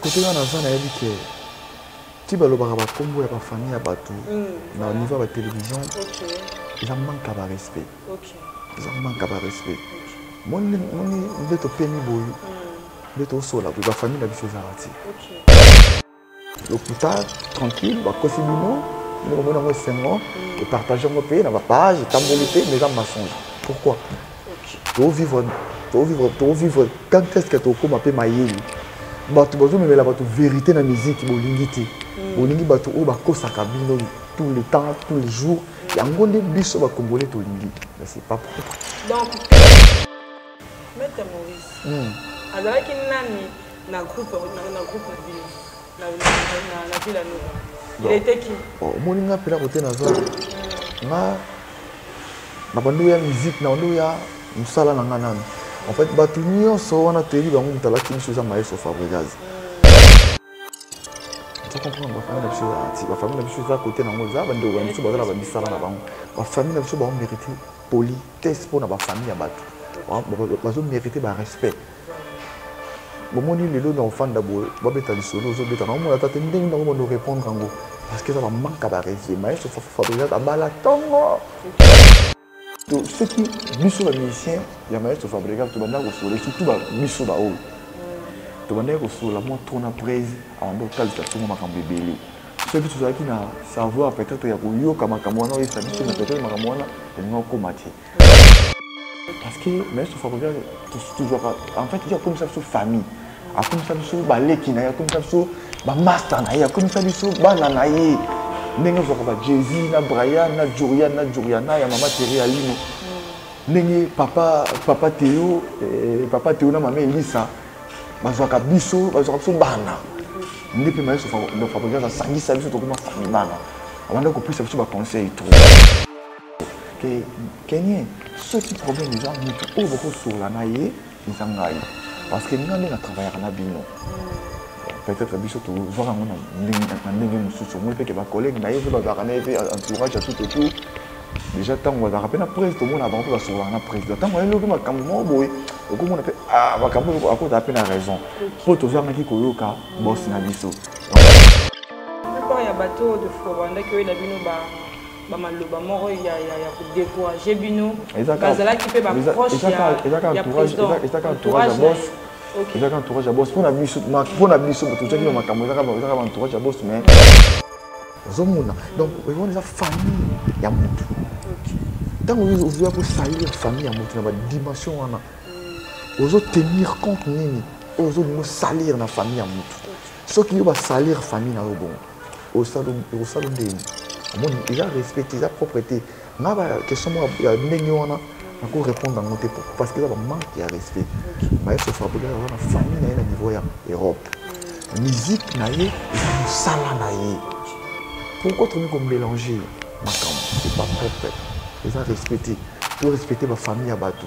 kote nga naza nayebi ke ti balobaka bakombo ya bafamille ya bato mm. na niveau ya batelevision eza manka barespect eza manka barespect moni nde topemi boye mm. nde tosola boye bafamille na biso ezalaka ti lokuta tranquille bakosi bino nde komona yango esengo mm. epartage yango mpe na bapage etamboli mpe mais eza mensonge pourquoi To vivre to vivre to vivre quand est-ce que to koma pe mayeli. Bato bazo memela bato vérité na musique bolingi te. Hmm. Bolingi bato oyo bakosaka bino tous les temps, tous les jours. Yango nde biso ba Congolais tolingi. Mais c'est pas propre. Donc Maître Maurice. Hmm. Azalaki nani na groupe na groupe na bino? na ville ya Nova. Il était qui oh, Omoni nga mpela kote naza nga na bando ya musique na bando ya mosala na nga nanu en fait bato nyonso wana toyebi bango moto alaki biso eza maestro fabrigaz comprendre bafamille na biso eza anti bafamille na biso eza kote nango eza bandeko na biso baza na bamisala na bango bafamille na biso baomérite politesse mpo na bafamille ya bato bazomerite barespect bomoni lelo na ofanda boye babeta lisolo ozobeta na omona ata te ndenge nango bando répondre yango parce que eza bamanka barese maestro fabrigat abala ntongo to soki biso bamusicien ya maestro fabrigat tobandaki kosola surtout biso baoyo tobandaki kosola mwa trop na prese abanda kotalisa ntongo makambo ebele soki tozalaki na savoir peut-être ya koyoka makambo wana oyesa biso na peut-être makambo wana elingi okoma te parce que mais sofa ko bien toujours en fait il comme ça sur famille a comme ça sur ba leki na ya comme ça sur ba master na ya comme ça sur bana na ye ndenge zo ba Jay-Z na Brian na Jurian na Juriana ya mama Terry Alino ndenge papa papa Théo eh, papa Théo na mama Elisa bazwaka biso bazwaka biso bana nde mpe mayeso fabrigas asangisa biso tokoma famille bana abanda kopesa biso baconseil trop ke kenye soki problème eza motu oyo bokosolola na ye eza ngai parce que ngai nde na travaillaka na bino peut-être biso tozwaka yango na ndenge mosusu omoni mpe ke bacollègue na ye mpe bazalaka na ye mpe entourage ya tout autour déjà ntango bazalaka mpe na presi tomona bango mpe basololaka na président ntango ayeloki makambo moko boye okomona mpe ah, makambo oyo akozala mpe na raison mpo tozangaki koyoka bosi na biso ya bato oyo tofobandaki oyo na bino ba bamaloba moko ya, ya, ya kodecourage bino bazalaki mpe baproche ya président ezaka entourage ya boss ezaka entourage ya boss mpo na biso mpo na biso tozwaki na makambo ezaka entourage ya boss mais ozomona donc wana eza famille ya motu ntango ozoya kosalir famille ya motu na badimension wana ozotenir compte nini oyo ozolingo salir na famille ya motu soki yo basalir famille na yo bongo osalo osalo ndeni omoni eza respecte eza propre te nga ba question moko ya ndenge wana nako répondre yango te pourquoi parce que eza bamanque ya respect maestro fabriga aza na famille na ye na niveau ya europe musique na ye eza mosala na ye pourquoi tokomi komélange makambo c'est pas propre eza respecte to respecte bafamille ya bato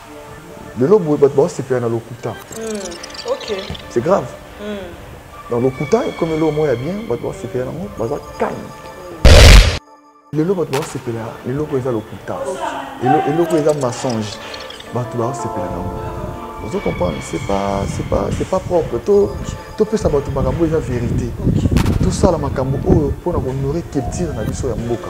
lelo boye bato baosepela na lokuta hmm, c'est grave hmm. na lokuta ekomi eloko moko ya bien bato baosepela yango baza calme hmm. lelo bato baosepela eloko eza lokuta eloko eza mensonge bato baosepela nango ozo comprendre c'est pas c'est pas c'est pas propre to topesa bato makambo eza vérité tosala makambo oyo mpo na kohonore culture na biso ya mboka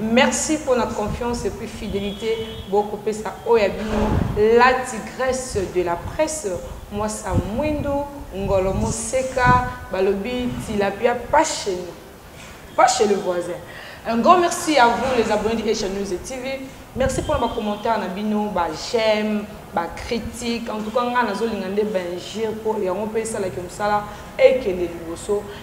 Merci pona confiance et puis fidelite bo ko pesa oyo ya bino la tigresse de la presse mwasa mwindu ngolo moseka balobi tilapia passion pas chez le voisin. Un grand merci à vous les abonnés de Asia News et TV. Merci pour vos commentaires, Nabino, bah, j'aime, bah, critique. En tout cas, on a zolingande Benjir pour et on peut ça la comme ça là et que les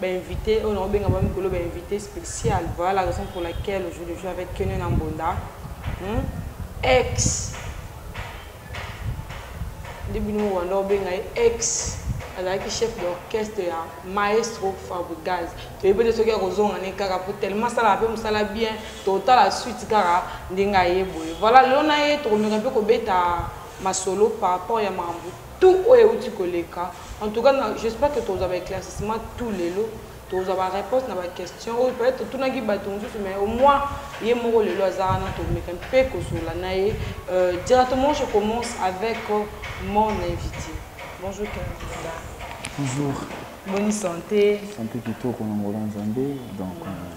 Ba invites oyo nako benga bango mikolo ba invites speciales voilà la raison pour laquelle aujourd'hui je suis avec Kene na Mbonda hum ex nde bino Rwanda obenga ye ex azalaki chef d'orchestre ya maestro Fabrigaz toyebi te soki akozonga ne kaka po tellement asalaka mpe mosala bien totala suite kaka ndenge aye boye voilà lelo na ye tokomeka mpe kobeta masolo par rapport ya makambo tout oyo euti koleka en tout cas j'espère que tozwa ba éclaircissement tout lelo tozwa ba réponse na ba question oyo peut-être totunaki bato mosusu mais au moins ye moko lelo aza wana tomeka mpe kosola na ye euh, directement je commence avec euh, mon invité bonjour canada bonjour bonne santé santé kitoko na ngolo nzambe donc euh,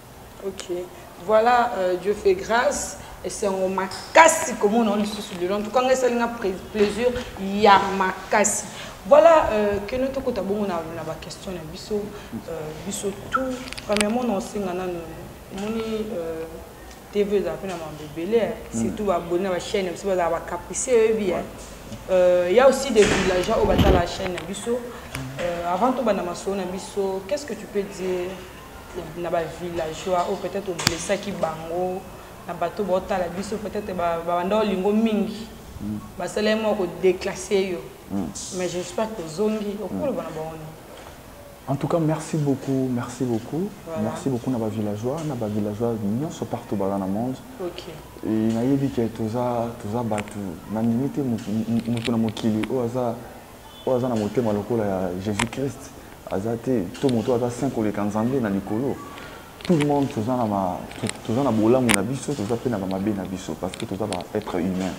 Ok, voilà euh, Dieu fait grâce. esengo makasi komona yango lisusu lelo en tout cas ngai esali nga plaisir ya makasi voilà euh, keno tokota bongo na, na baquestion na biso euh, biso tout premièrement na osenga nanu omoni euh, tv ezala mpe na mambo ebele eh. mm. surtout baboni na bachaine na biso bazala bacaprice oyebi eh. euh, ya aussi des villageois oyo batala chaîne na biso euh, avant tobanda masolo na biso qu'est ce que tu peux dire na ba villageois oyo peut-être oblessaki bango na bato baotala biso peut-être babanda olingo mingi mm. basalaki mwa kodeclasse yo mm. mais j'espère kozongi okoloba na bango nini En tout cas, merci beaucoup, merci beaucoup. Voilà. Merci beaucoup na ba villageois, na ba villageois nyonso partout dans le monde. OK. Et na yebi que toza toza batu na limite mutu na mokili oyo aza oyo aza na motema lokola ya jesus christ aza te to moto aza saint koleka nzambe na likolo tout le monde toza na ma toza na bolamu na biso toza mpe na bamabe na biso parce que toza ba être humain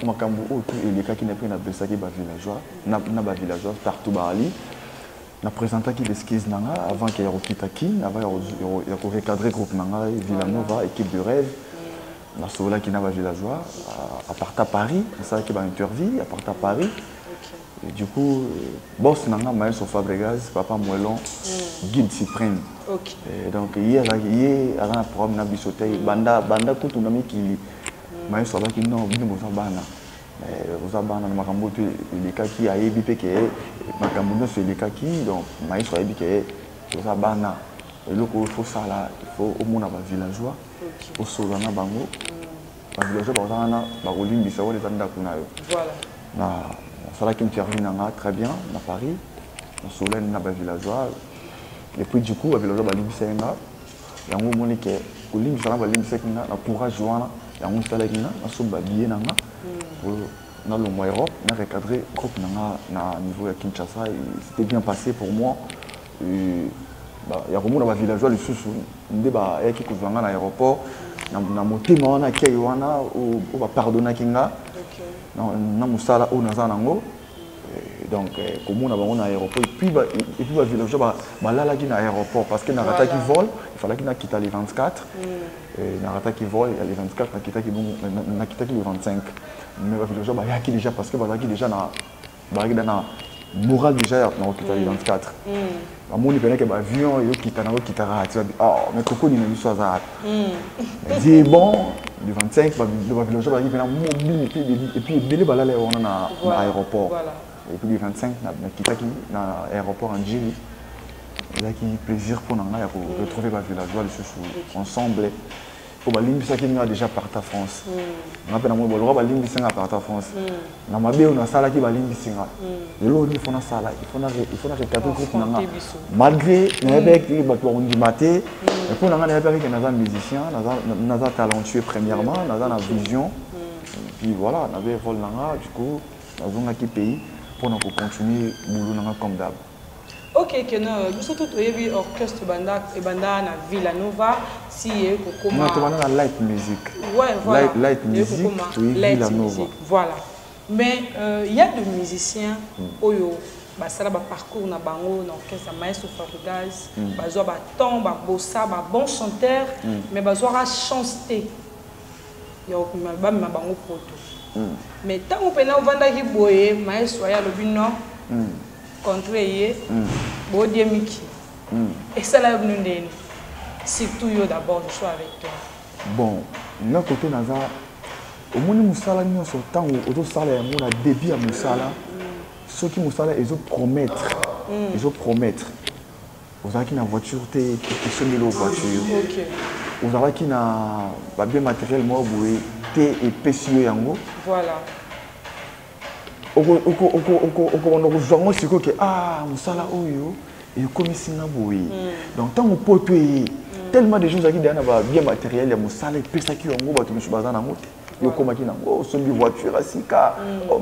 makambo oyo tout elekaki na mpe napesaki bavillageois na bavillageois partout baali na présentaki l'esquise na ngai avant ke ya kokita kin avant ya korecadre groupe na ngai villanova équipe de rêve nasololaki na bavillageois euh, aparta paris nasalaki baintervie aparta paris Et du coup, euh, boss nanga maestro Fabregas, papa Moellon, mm. guide suprême. Okay. Et donc, hier, hier, avant un programme, na bisoté, mm. banda, banda, kutu na mikili. Mm. Maestro abaki non, bino boza bana. boza bana na makambo oyo elekaki ayebi mpe ke makambo nyonso elekaki donc maestro ayebi ke boza bana eloko oyo fosala ifo omona bavillageois osolola na bango bavillageois bakozala wana bakolimbisa wana eza ndako na yo nasalaki interview na nga très bien na paris nasololani na bavillageois et puis du coup bavillageois balimbisaki nga yango omoni ke kolimbisa na balimbisaki nga na courage wana yango esalaki nga nasomba biye na nga hmm. nalongwa europe na recadre groupe na nga na niveau ya kinshasa c'était bien passé pour moi ya komona ba villageois lisusu nde bayaki kozwa nga na aéroport na motema wana akei wana oyo bapardonaki nga na mosala oyo naza nango eh, donc eh, komona bango na aéroport epuis ba villageois balalaki na aéroport parce que narataki vol efalaki nakita le 24 mm. eh, narataki vol ya le 24 nakitaki le 25 mais ba villageois bayaki déjà parce que bazalaki déjà na bazalaki da na moral déjà ya na kokita le 24 bamoni mpenza ke baavion eyokita na kokitaka ati babi oh mais kokoni na biso aza wapi mais die bon le 25 bavillageois bazalaki mpena mobini epuis ebele balala ya wana na aéroport epuis le 25 nakitaki na aéroport en jili ezalaki plaisir mpo na ngai ya koretrouve bavillageois lisusu ensemble po balimbisaki nga déjà parta france hmm. nga mpe namoni baloka balimbisi nga parta france hmm. na mabe oyo nasalaki balimbisi nga hmm. lelo oyo ifo nasala ifo na retabli groupe na nga malgré nayebaki bato bakondima te mpo na nga nayebaki ke naza musicien naza talentueux premièrement naza na vision puis voilà nabe role na nga du coup nazongaki pays mpo na kocontinue boulot na nga comme d'hab Ok keno biso tout toyebi orchestre banda ebanda na Villa Nova si ye kokoma Non tobanda na light music. Ouais voilà. Light, light music to Villa Nova. Voilà. Mais euh, il euh, y a des musiciens mm. oyo basala ba parcours na bango na orchestre ya Maestro Fabrigas, mm. bazwa ba temps ba bossa ba bon chanteur mm. mais bazwaka chance te. ya kokumela bamema bango poto hmm. mais ntango mpena ovandaki boye maestro aye alobi non hmm. contre ye hmm. bodie miki esala yo bino ndeni surtout yo d'abord je suis avec toi bon nga kote naza omoni mosala nyonso ntango ozosala yango na début ya mosala soki mosala ezo promettre ezo promettre ozalaki na voiture te esomi lo voiture okay. ozalaki na babien matériel moko boye te epesi yo yango voilà. okobanda kozwa ngo sikoyo ke a ah, mosala oyo ekomisi nga boye hmm. donc ntango poto eye hmm. tellement des gens ozalaki deya na babien matériel ya mosala epesaki yango bato mosusu baza nango te yo okomaki nango osombi voiture ya sika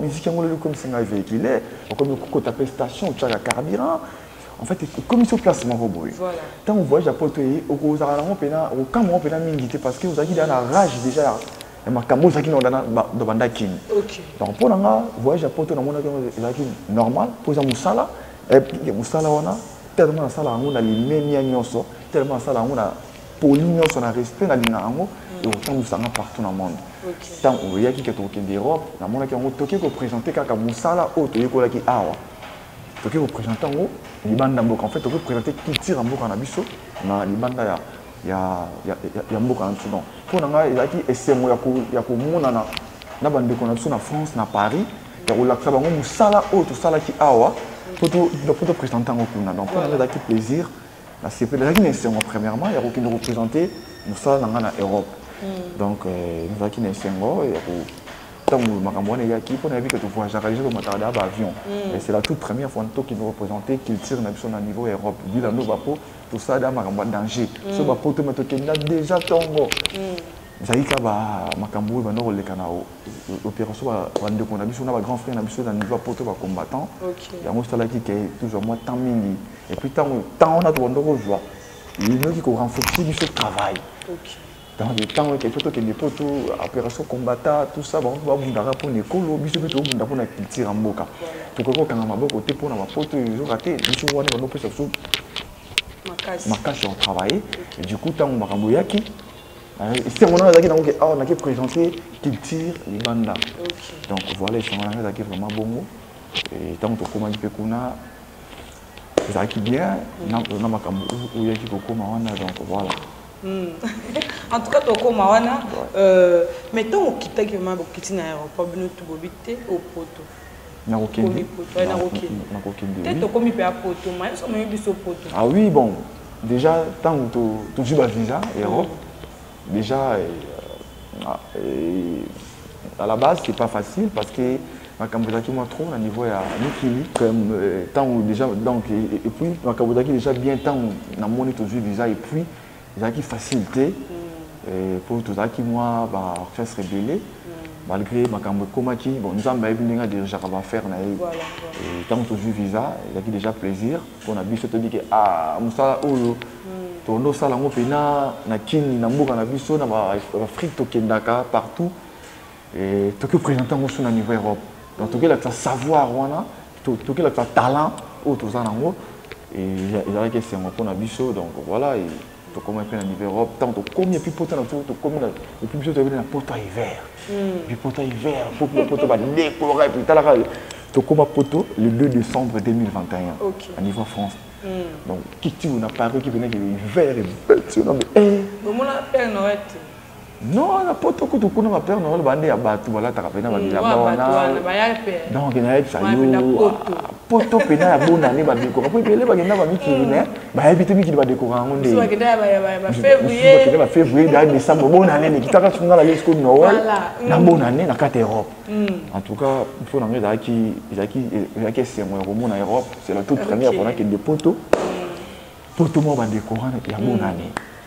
miziki yango lelo ekomisi ngai véhicule okomi kokota mpe station otyaka carburant en fait comme sur place moko boye ntango voyage ya poto eye okozala nango mpena okamwa yango mpena mingi te parce que ozalaki deja na rage déjà ya ya makambo ozalaki nango dana banda kini donc mpo na nga voyage ya poto namonaki yango ezalaki normal mpo eza mosala ya mosala wana tellement nasala yango na limemia nyonso tellement nasala yango na poli nyonso na respect nalinga yango ekotambwisa nga partout na monde ntango oyaki ke tokokende europe namonaki yango toke kopresente kaka mosala oyo toyekolaki awa toke kopresente yango libanda mboka en fait toke kopresente culture ya mboka na biso na libanda ya, ya, ya, ya, ya mboka na biso donc mpo na ngai ezalaki esengo ya komonana na bandeko na biso na france na paris ya kolakisa bango mosala oyo tosalaki awa mpo topresente yango kuna donc mpo na ngai ezalaki plaisir nasepeli ezalaki na esengo premièrement ya kokende kopresente mosala na ngai na europe hmm. donc euh, nazalaki na esengo ya ntango makambo wana eyaki mpo nayebi ke tovoyageaka deja tomataka deya baavion hmm. mais c'est la toute première fois tokende représente culture na biso na niveau ya europe bila ndoba mpo tosala deya makambo ya danger hmm. so bapoto me tokenda deja ntongo ezalaki kaka makambo oyo banda koleka na opération bandeko na biso na bagrand frère na biso na niveau ya poto bacombattant yango esalaki ke tozwa mwa temps mingi et puis ntango ntango wana tobanda kozwa inoki korenforce biso travail donc ntango eke fo tokende mpo to opération combata tout ça bango babundaka mpo na ekolo biso mpe tobunda mpo na culture ya mboka tokoki kokanga maboko te mpo na bapoto ezoka te biso wana bando opesa biso makasi ya kotravaille du coup ntango makambo eyaki esengo nanga ezalaki nango ke awa nake présente culture libanda donc voilà esengo nanga ezalaki vraiment bongo ntango tokomaki mpe kuna ezalaki bien na makambo oyaki kokoma wana donc voilà hmm. en tout cas tokoma wana euh, mais ntango okitaki ma bokiti na aéroport bino tubobi te au poto nakokende te tokomi mpe apoto mayeso moyebi biso poto ah oui bon déjà ntango tozwi bavisa europe Dejà, à la base, c'est pas facile parce que makambo ezalaki mwa trop na niveau ya mikili ntango euh, déjà donc et puis makambo ezalaki déjà bien ntango namoni tozwi visa et puis ezalaki facile te mm. euh, mpo tozalaki mwa ba orchestre ebele mm. malgré makambo ekomaki bon nzambe ayebi ndenge adirigeaka baaffaire na ye ntango tozwi visa ezalaki déjà plaisir pona biso toyebi ke a ah, mosala oyo hmm. tondo sala ngo pena na kini na mboka na biso na ba afrique tokendaka partout et toki présenter ngo na niveau europe donc toki la savoir wana toki la talent oyo toza nango et ezalaki esengo pona biso donc voilà et tokoma mpe na niveau europe ntango tokomi epuis mpota na biso tokomi na epuis biso toyebi na poto ya hiver hmm. epuis poto ya hiver poto poto badekolaka epuis talaka tokoma poto le 2 décembre 2021 okay. na niveau france hmm. donc kiti oyo na paris ki venaki hiver ebeti yo na me omona père noël te Non, na poto kutu kuna ba père Noël bande ya batu balataka pena ba bilamba wana. Donc na yebisa yo poto pena ya bonne année ba décora. Puis pele ba kenda ba mikili mais ba yebi te mikili ba décora yango nde. Ba kenda ba février. Ba kenda ba février da décembre bonne année mais kitaka sunga la lesko Noël. Na bonne année na carte Europe. En tout cas, il faut na ngai da ki da ki da ki c'est moi au monde Europe, c'est la toute première fois que de poto. Poto mo ba décora ya bonne année.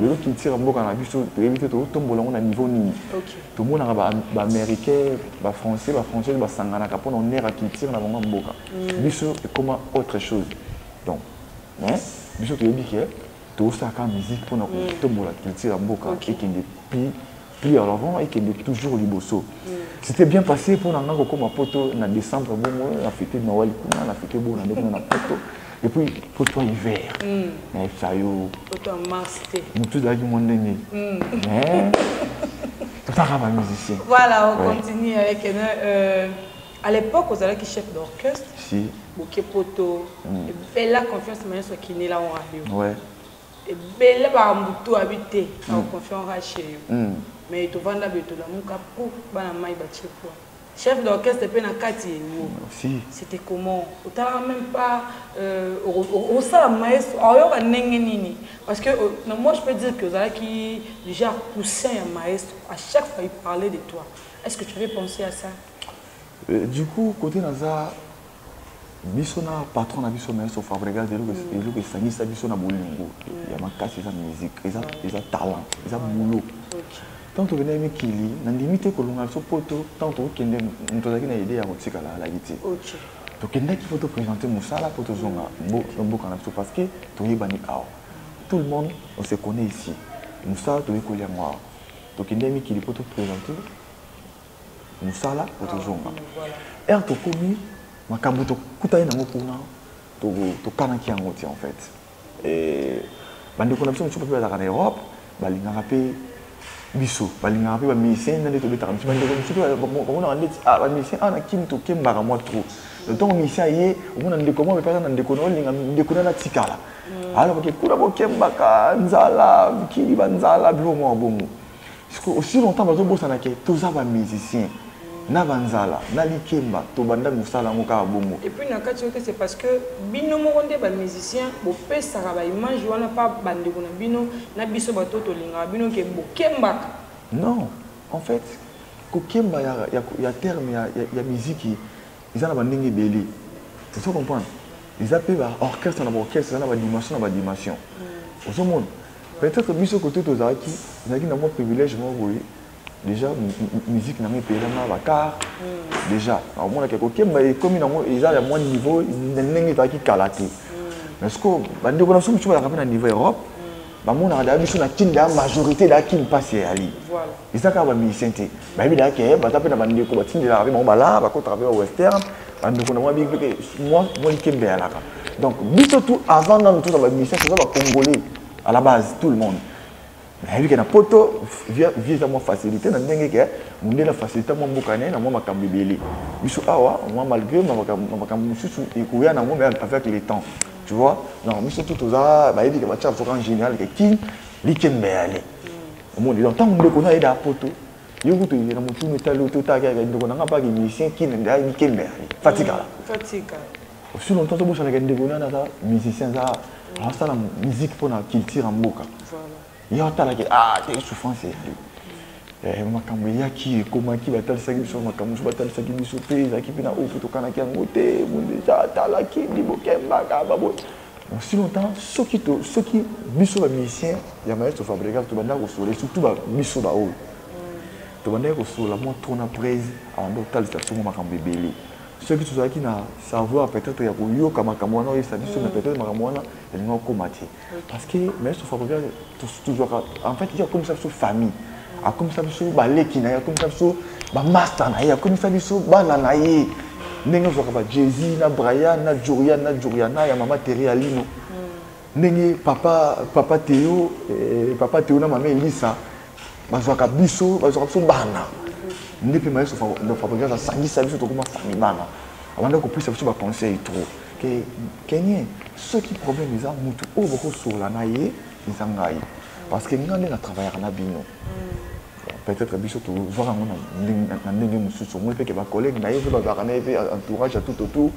lelo culture ya mboka na biso toyebi te totombola yango na niveau nini tomonaka baaméricain bafrançais bafrançaise basanganaka mpo na honneur ya culture na bango ya mboka mm. biso ekoma autre chose donc mais biso toyebi ke tosalaka musique mpo na mm. kotombola culture ya mboka ekende pi plus en avant et que de toujours liboso c'était bien passé mpo na ngai kokoma poto na décembre bongo na fete noel kuna na fete bona nde kuna na poto et puis poto ya hiver nayebisa hmm. yo motu ezalaki mwa ndenge hmm. mais totaka bamusicien voilà on continue avec euh, à l'époque ozalaki chef d'orchestre si boke poto hmm. bella confiance ma nyonso akinela wana yo ebele ba mbutu abi te na hmm. confiance ka chez yo hmm. mais to vanda be to lamuka po bana mai ba chepwa chef d'orchestre pe na kati yengo c'était comment otala même pas euh, osala maestro ayoka ndenge nini parce que euh, non, moi je peux dire que ozalaki déjà poussin ya maestro à chaque fois il parlait de toi est-ce que tu avais pensé à ça euh, du coup côté naza biso na patron na biso maestro fabregas eloko mm. esangisa biso na bolingo mm. ya makasi eza musique eza mm. talent eza boulot ntango tokendaki mikili nandimi te kolonga biso poto ntango tokokende moto azalaki na ide ya kotikala alaki te tokendaki mpo topresente mosala mpo tozonga mboka na biso parce que toyebani awa tout le monde on se connaît ici mosala toyekoli yango awa tokendaki mikili mpo topresente mosala po tozonga ah, ere tokomi makambo tokutani nango kuna tokanaki yango ti en fait bandeko na biso mosusu mpe bazalaka na europe balingaka mpe biso balingaka mpe bamusicien nde tobetaka biso bandeko mosusu bamonaka ndeti ah, bamusicien awa ah, na kini tokembaka mwa trop ntango musicien aye omona ndeko mwa mepaka na ndeko na olinga ndeko na natikala mm. alors ke kuna bokembaka nzala mokili banzala bilo mwa bongo siko aussi longtemps bazobosana ke toza ba musicien na banzala na likemba tobanda mosala yango kaka bongo epuis na kati yote c'est parce que bino moko nde bamusicien bopesaka baimage wana pa bandeko na bino na biso bato tolingaka bino ke bokembaka non en fait kokemba ya, ya, ya terme ya, ya, ya miziki eza na bandenge ebele ozo comprendre eza mpe ba orchestre na ba orchestre eza na ba dimension na ba dimension mm. ozo mona peut-être biso kote tozalaki ezalaki na mwa privilège moko boye déjà musique na ngai epelama bakar mm. déjà naomonaka ekokemba ekomi nango eza ya mwa niveau ndenge ezalaki kala te mm. mais siko bandeko na biso mosusu balaka mpe na niveau europe bamonaka daya biso na kin daya majorité daya kin mpasi eyali eza kaka bamusicien te bayebi na ke baza mpe na bandeko batindelaka mpe bango balaa bakotaka mpe ba western bandeko na mwa biki mpe mwa likembe yalaka donc biso tout avant nanu toza bamission toza bacongolais à la base tout le monde nayebi ke na poto vie eza mwa facilité na ndenge ke mondele facilité mwa mboka naye na mwa makambo ebele biso awa mwa malgré makambo mosusu ekoya na yango mais avec le temps tu vois donc biso tout toza bayebi ke batya biso kan général ke kin likembe yale omoni donc ntango ndeko na ayeda poto yo kutu na motunu etali yo totaki ayaka ndeko na ngai mpaki musicien kina nde ayaki kembe yali fatikala osi longtemps tobosanaka ndeko nani aza musicien aza asala musique mpo na culture ya mboka ye atalaki ah te souffrance eyali eh, makambo eyaki ekomaki batalisaki biso makambo mosusu batalisaki biso mpe ezalaki mpe na oyo mpe tokanaki yango te bonde atalaki libokembaka baboye aussi longtemps soki to soki biso ba musicien ya maestro fabrical tobandaki kosolola surtout ba biso baoyo tobandaki kosolola mwa trop na prese abanda kotalisa biso mwa makambo ebele soki tozalaki na savoir peut-être ya koyoka makambo wana oyebisa biso mais peut-être makambo wana elingi okoma te parce que maestro fabrical tozwaka en fait ye akomisa biso famille akomisa biso baleki na ye akomisa biso bamasta na ye akomisa biso bana na ye ndenge ozwaka ba jezi na brian na jorian na joriana ya mama teri ya lino hmm. ndenge papa papa teo eh, papa teo na mama elisa bazwaka biso bazwaka biso bana nde mpe mayeso fabrigase asangisa biso tokoma famille bana abanda kopesa biso baconseil trop ke kenye soki problème eza mutu oyo bokosolola na ye eza ngai parce que ngai nde na travaillaka na bino peut-être biso tozwaka yango na ndenge mosusu omoni mpeke bacollègue na ye mpe bazalaka na ye mpe entourage ya tout autour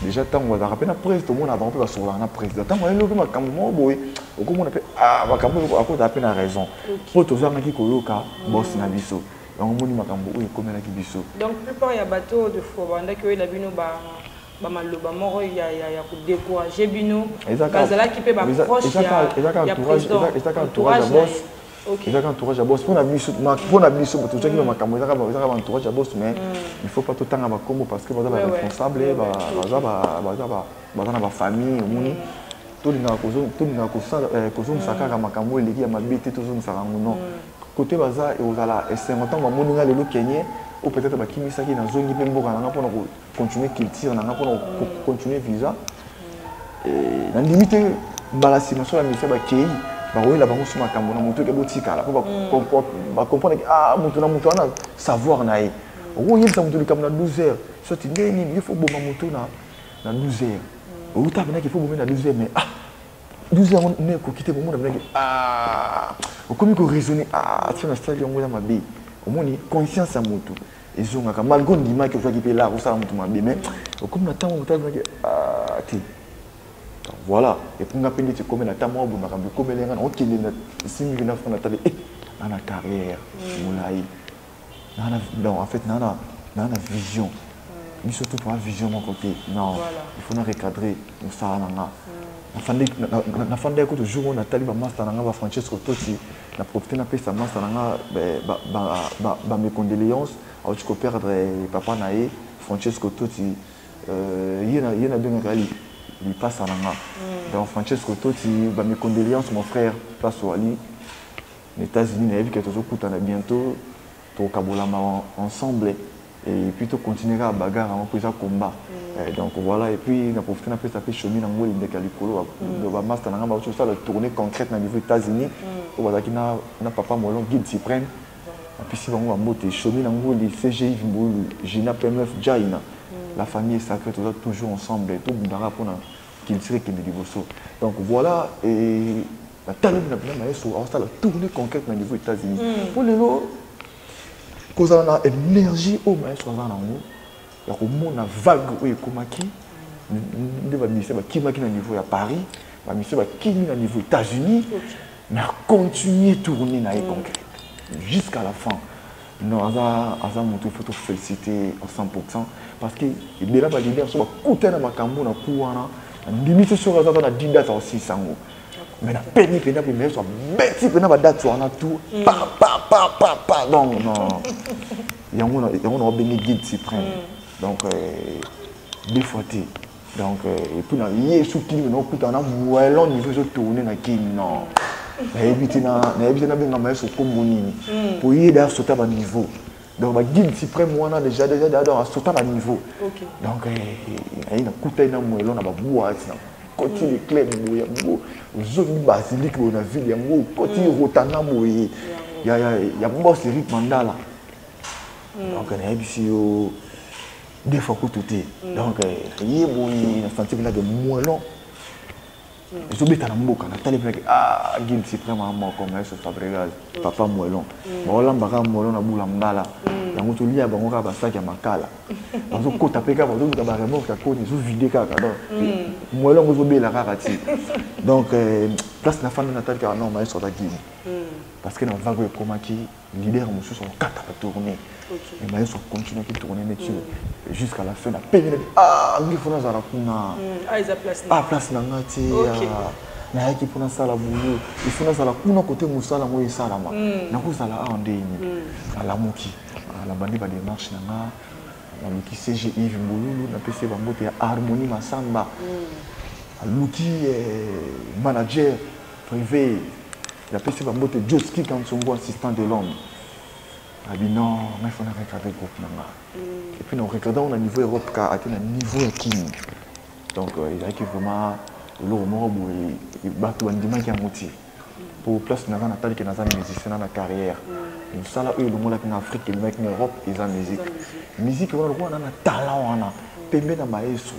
déjà ntango bazalaka mpe na prese tomona bango mpe basololaka na président ntango ayeli mpe makambo moko boye okomona mpe ah, makambo oyo akozala mpe na raison mpo tozangaki koyoka bosi na biso yango omoni makambo oyo ekomelaki biso donc plupart ya bato de fois bandaki oyela bino ba bamaloba moko ya, ya, ya kodecourage bino bazalaki mpe baproche ya président ezaka entourage ya boss ezaka entourage ya boss mpona biso mpona biso tozwaki ba makambo ezaka ba entourage ya boss mais il faut pas totanga bakombo parce que baza ba responsable baza na bafamille omoni tolingaka kozongisa kaka makambo oyo eleki ya mabe te tozongisaka yango non kote baza ekozala esengo ntango bamoni nga lelo kenye ou peut-être bakimisaki nazongi mpe mboka na nga mpona continuer culture na nga mpona continuer visa eh, nandimi te mbala nsima so ya misia bakei bakoyela bango so makambo na moto eke botikala mpo bacomprendre mm. ah moto na moto wana savoir na ye okoyebisa moto likambo na 12 heures soti ndenge nini ye fo boma moto na 12 heures outa apenaki fo bomi na 12 heures mais ah 12 yango ne ekoki te komona penaki ah okomi koraisonne ah tia na stade yango ya mabe omoni conscience ya motu ezongaka malgre ondimaki ozwaki mpe lar osala moto mabe mais okomi na ntango moto alobaki ah, te donc voilà epuis nga mpe ndeti ekomela ata mwa bondaka bokomeli nga naokende na esimbi vina fona tale e eh, naa na carrière mm. molai naana donc en fait naana naa na vision mm. biso tout mwa vision moko te non il faut na recadrer mosala na nga mm. nafandaki kutu jour oyo natali bamasta na nga ba francesco tosi na profite napesa masta na nga bamecondoléance auti koperdre papa na ye francesco toti euh, ye nabengaka lipasa na nga mm. donc francesco toti bamecondoléance mon frère place oali na états-unis nayebi ke tozokutana bientôt tokokabolama ensemble et puis to continuer kaka bagarre yango mpo eza combat mm. eh, donc voilà et puis na profite na pesa mpe shomi na ngoli ndeke ya likolo mm. bamasta na ngai bauti kosala tournée concrète na niveau états-unis mm. oyo bazalaki na, na papa molon guide suprême apesi bango bambote shomi na ngoli cgi mbulu gina pmf jaina la famille est sacrée toza toujours ensemble tobundaka mpona culture ekende liboso donc voilà et nataleli na bina mayeso aosala tournée concrète na niveau états-unis mpo lelo kozala na energie oyo maestro aza nango ya komona vague oyo ekomaki nde bamusicien bakimaki na niveau ya paris bamusicien bakimi na niveau états-unis na continue tourne na ye concret jusqu'à la fin non aza aza motu ifo tofélicité en 100 pourcent parce que ebela baleader so bakutani na makambo na ku wana andimisi soki aza ata na didata osilisa yango mais napemi mpenza mpe yesu abeti mpenza badate wana tout mm. pa pa pa pa pa donc non yango yango na wabengi guide suprême mm. donc euh, deux fois te donc euh, epuis na yesu kini mena okutana na moellon niveau ezotourne na kini non nayebi te nayebi te nabengama yesu nkombo nini mpo mm. ye da sota baniveau donc ba guide suprême wana déjà déjà déjà donc asota ba niveau okay. donc eh, ayi na kuta ina mwelo na ba boîte na koti mm. le club boye yango ozongi basilique boye na ville yango koti mm. rotana boye ya ya ya boss Eric Mandala mm. donc na yebisi yo deux fois kutu te mm. donc eh, ye boye na senti que là de mwelo ezobeta na mboka natali mpe nake ah guilde supreme a moko maestro fabregas papa moelon baolamba kaka moelon na bula ngala yango tolia bango kaka basaki ya makala bazokota mpe kaka bazoluka baremorke ya koni ezovide kaka donc moelon yango ezobela kaka ti donc place na fanda natali kaka non maestro aza guilde parce que na vago ekomaki leader mosusu akokata batourne mais mayeso akontinuaki tourne neti jusqu'à la fin na penge neti ah ngi fona azala kuna a place na nga te nayaki mpo nasala boulot ifo nazala kuna kote mosala yango esalama nakozala awa nde ini nalamuki nabandi bademarche na nga naluki cg ive mbululu napesi bango te ya harmonie masamba aluki manager privé napesi bambote joski kansongo assistant de l'homme abi non ngai fo na recadre groupe na nga mm. epuis na recadre yango na niveau ya europe ka ate na niveau ya kini donc euh, ezalaki vraiment eloko moko boye bato bandimaki yango te mpo place naza natali ke naza musicien na na carrière mm. mosala oyo elongolaki na afrique elongaki na europe eza musique musique wana lokola na na talent wana pembe na maestro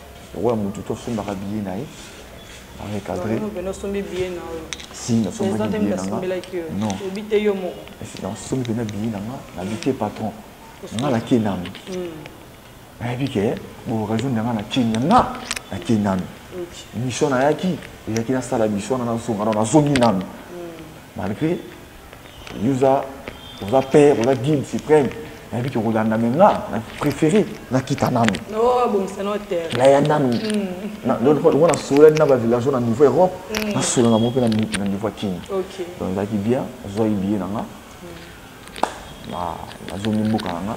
lokola motu to sombaka biye na ye recadré osombi biye na yo si nasombaki biye na nga non obi te yo moko nasombi mpena biye na nga nabi te patron nga na kenami nayebi ke booccasion na nga na kenya nga na kenami mission nayaki eyaki nasala mission na nazonga na nazongi nanu malgré Yuza, oza père, oza guide suprême. nayebi ke okolanda me nga na préféré nakita nanu naya nanu lokola nasololani na bavillageois na niveau europe mm. nasolo na mo mpe na niveau ya kini donc ezalaki bien nazwaki biye na nga mm. nazongi mboka na nga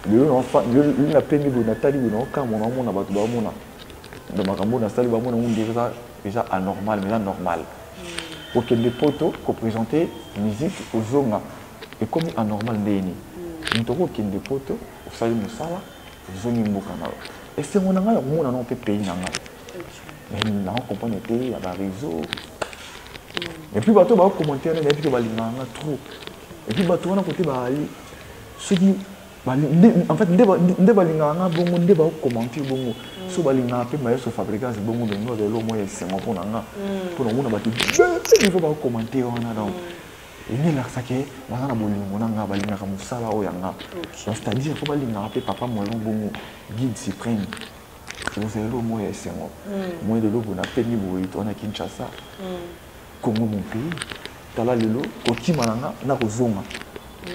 lelo napemi boye natali boye naokamwa naomona bato baomona donc makambo oyo nasali bamona ngo nde eza anormal mais eza normal okende poto kopresente musique ozonga ekomi anormal ndenge nini moto mm. okokende poto osali mosala ozongi mboka na yo esengo na ngai ya komona nao mpe pays na ngai mais nao comprendre te ya bareseau mm. epuis bato baokommentaire nayebi te balingaka nga trop epuis bato wana kote baali soki en fait nde balingaka nga bongo nde baokomante bongo mm. so balingaka mpe maestro fabricas bongo bengo azali eloko moko ya esengo mpo na nga mm. mpo na omona bato nivo baokomante wana donc mm. elingi elakisa ke baza na bolingo na nga balingaka mosala oyo ya nga c'est-à-dire mpo balingaka mpe papa moelon bongo guide supreme ozali eloko moko ya esengo moi lelo mpona pemi boye to wana kinshasa Congo mon pays tala lelo kokima na nga na kozonga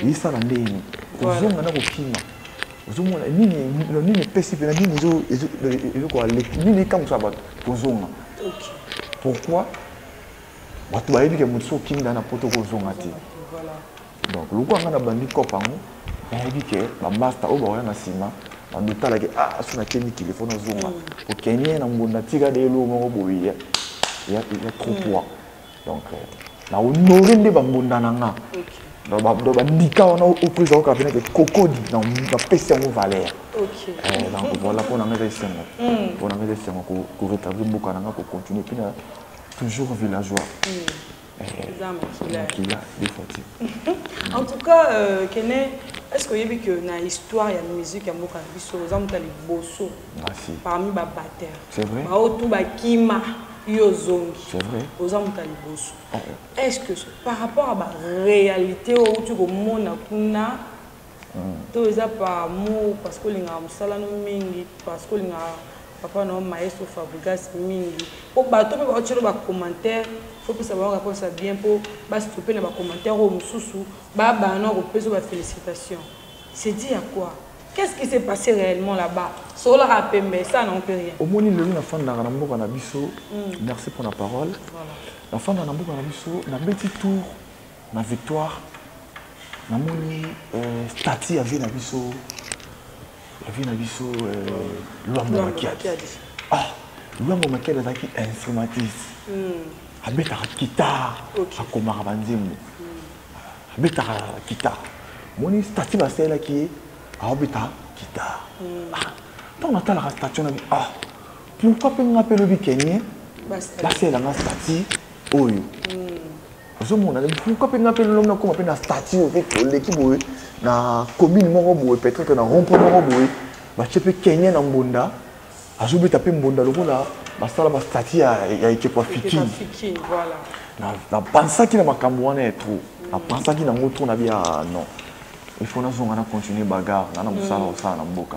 yesala nde yini kozonga na kokima ozomona nini nini epesi mpena nini ezokoaleki nini ekamwisa bato kozonga pourquoi bato bayebi ke moto so okimi na na poto kozonga te donc lokola ngai nabandi cop yango nayebi ke bamasta oyo bakoya na nsima bandotala ke ah so nake mikili fo nazonga okenie na mbonda tika de eloko moko boye ya trop poids donc na honore nde bambonda na nga donc bandika wana opresa oyoka pene ke kokodi napesi yango valeur donc voilà mpo na nga eza esengo mpo na nga eza esengo koretablir mboka na nga kocontinue mpe na toujours villageois eza makila makila de fati en tout cas euh, kene est ce que oyebi que na histoire ya musique ya mboka na biso oza moto ya liboso parmi babateur baoyo tu bakima yo ozongi oza moto ya liboso est ce que par rapport ya baréalité oyo outi komona kuna to eza par amour parce que olingaka mosala no mingi parce que olingaka papa na yo maestro fabrigas mingi mpo bato mpe baotyelo bacommentaire fopesa bango réponse ya bien mpo bastope na bacommentaire oyo mosusu babana na kopesa bafélicitation c'est dit ya quoi qu'est ce qui s'est passé réellement là-bas sololaka pembe ça non mpe rien omoni lelo nafandaka na mboka na biso hmm. merci mpo na parole nafandaka na mboka na biso nabeti tour na victoire namoni euh, stati ya vie na biso ya vie na biso euh, lwambo makiadi ah lwambo makiadi azalaki instrumentiste hmm. abetaka kitare akomaka banzembo hmm. abetaka kitare moni stati basalelaki ye aobeta kitare hmm. ah, ntango natalaka stati wana ah pourkoi mpe nga mpe lobi kenye basalela nga stati oyo ozomona pourkui mpe ngai mpe lolomna koma mpe na statut oyo mpe oleki boye na commune moko boye peut-être na rompoint moko boye batie mpe kenye na mbonda azobeta mpe mbonda lokola basala bastati ya ekeko ya fikini napansaki na makambo wana ya trop napansaki nango trop na bia ah, non il faut nazonga na continuer bagarre nga na mosala mm. osala na mboka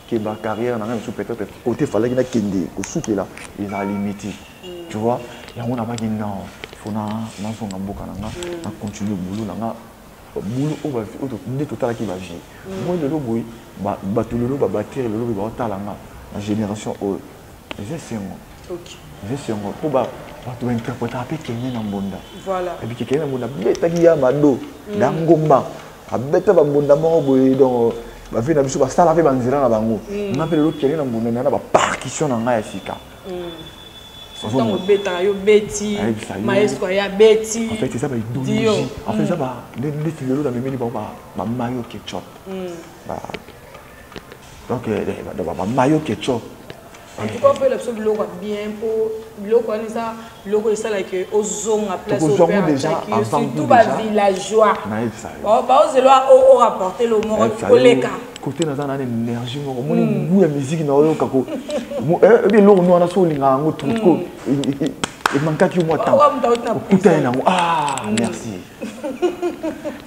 keba carrière na ngai mosusu peut-être kote efalaki nakende kosukela ezala limiti mm. tu vois yango nabaki non fo nazonga mboka na nga mm. na continue bulu na nga bulu oyo nde totalaki bavie mm. moi lelo boye bato lelo babatire lelo boye baotala nga na génération oyo eza esengo eza esengo mpo bato bainterpretaka mpe kenge na mbonda ebike kenge na mbonda betaki ya mado na ngomba abeta bambunda moko boye donc bavie na biso basala mpe banzela na bango mm. nga mpe lelo kende na mbunda na na bapartition na ngai ya sika ntango mm. obetaka yo beti maestro aya beti en fait eza baidologie en fait eza mm. neti lelo na memeli bango bamayo ketchup donc eh, eh, babayo keco antuka mpo elakisa biloko ya bien mpo biloko wana eza biloko esala ke ozonga placesurtout bavillageois baozelwa orapporte lo moko koleka kote naza na énergie moko omoni hmm. gout ya miziki na oyoka ko ebi eloko no wana so olinga yango trop hmm. emankaki yo mwa temps okuta ye nango ah hmm. merci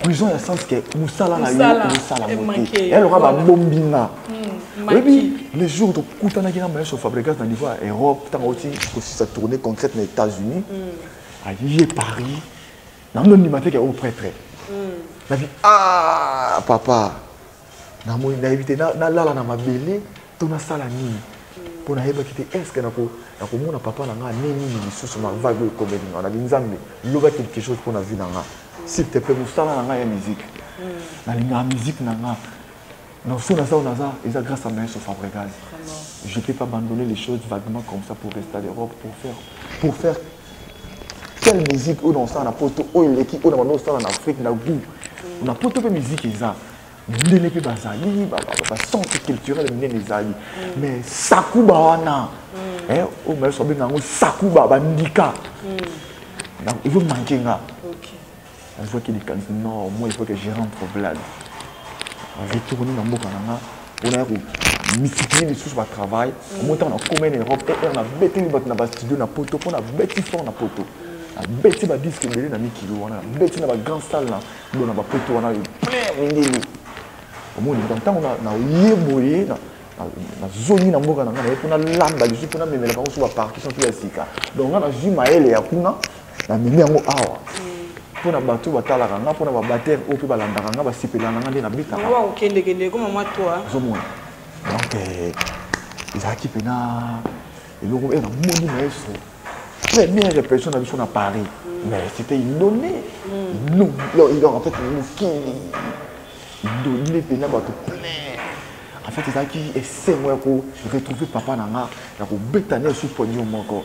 prison ya sens ke mosala na yo mosala mote yaloka babombi nga hmm, oyebi le jour tokutanaki na maestro fabrigas na niveau ya europe ntango oti kosisa tournée concrète na états-unis hmm. aye paris nango ndima te ke o oh, prêtre hmm. nabi a ah, papa namoni nayebi te nalala na mabele to nasala nini mpo nayebaki te estce nakomona papa na ngai ne nini lisusu mavague oyo ekomeli ngai nabi nzambe loba quelque chose mpo na vie na ngai s'il te plaît mosala na ngai ya musique hmm. nalingaka musique na ngai donc soki naza oyo naza eza grâce à maestro fabregas je peux pas abandonner les choses vaguement comme ça pour rester à l'europe pour faire pour faire quelle musique oyo naosala na poto oyo eleki oyo na bando osala na afrique na goût na poto mpe musique eza mindele mpe bazali bacentre culturel minene ezali mais sakuba wana oyo mayeso abenga yango sakuba bandika ezomanke nga nazwaki likanisi no moi il faut que je rentre blade nazwi tokoni na mboka na nga mpona ya komititie lisusu batravail omo ntango nakoma na europe er eh, nabeteli bato na bastudio na poto mpo nabeti fort na poto nabeti badiske ebele na mikili wana nabeti na bagrand salle na bo na bapoto wana plein mindele omoni ntango naye boye nazongi na mboka na ngai naye mpo nalamba lisusu mpo namemela bango so bapartition mpe ya sika donc ngai nazwi mayele ya kuna namemi yango awa mpo na bato batalaka nga mpo na babatere oyo mpe balandaka nga basepela na nga nde nabetakaozomona donc eh, ezalaki mpena eloko e eh, namoni maestro première répression na biso na paris mais c'était inonné mm. en fait mokili inonné mpena bato plein en fait ezalaki esengo ya koretrouve papa na nga ya kobeta na esu poignon moko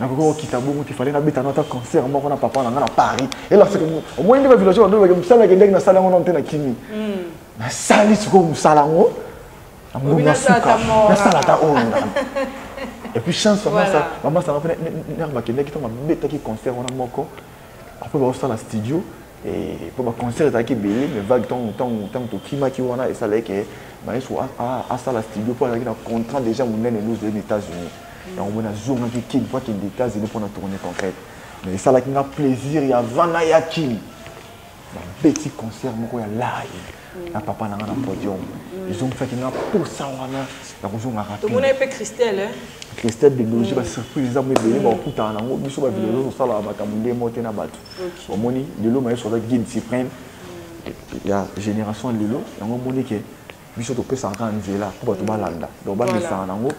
nakoki kokita bongo te fale nabeta na ata concert moko na papa na ngai na paris elaseke omoni nde bavillageois badolobake mosala ekendaki nasala yango nano te na kimi hmm. nasali sikoyo mosala yango na mbongo ya suka nasala ata oyo et puis chance mama sanga mpe nanga bakendaki ntango babetaki concert wana moko après baosala studio mpo baconcert ezalaki ebele mais vague ntango tokimaki wana esalaki ke maestro asala studio mpo azalaki na contrat déjà monene luzela na états-unis yango mona azongaki kin mpo akende états-unis mpo na tourne concrète mais esalaki nga plaisir ya vana ya kin babeti concert moko ya live na papa na nga na podium ezongisaki nga mposa wana ya kozonga rapidetomona mpe christelle christelle biologie mm. basurprise eza mo ebele bakokutana mm. nango biso bavile mm. ozosalaka makambo nde mo te na bato omoni lelo mayeso aza guide supreme ya génération lelo yango omoni ke biso topesaka kaka nzela mpo bato balanda donc bamesana nango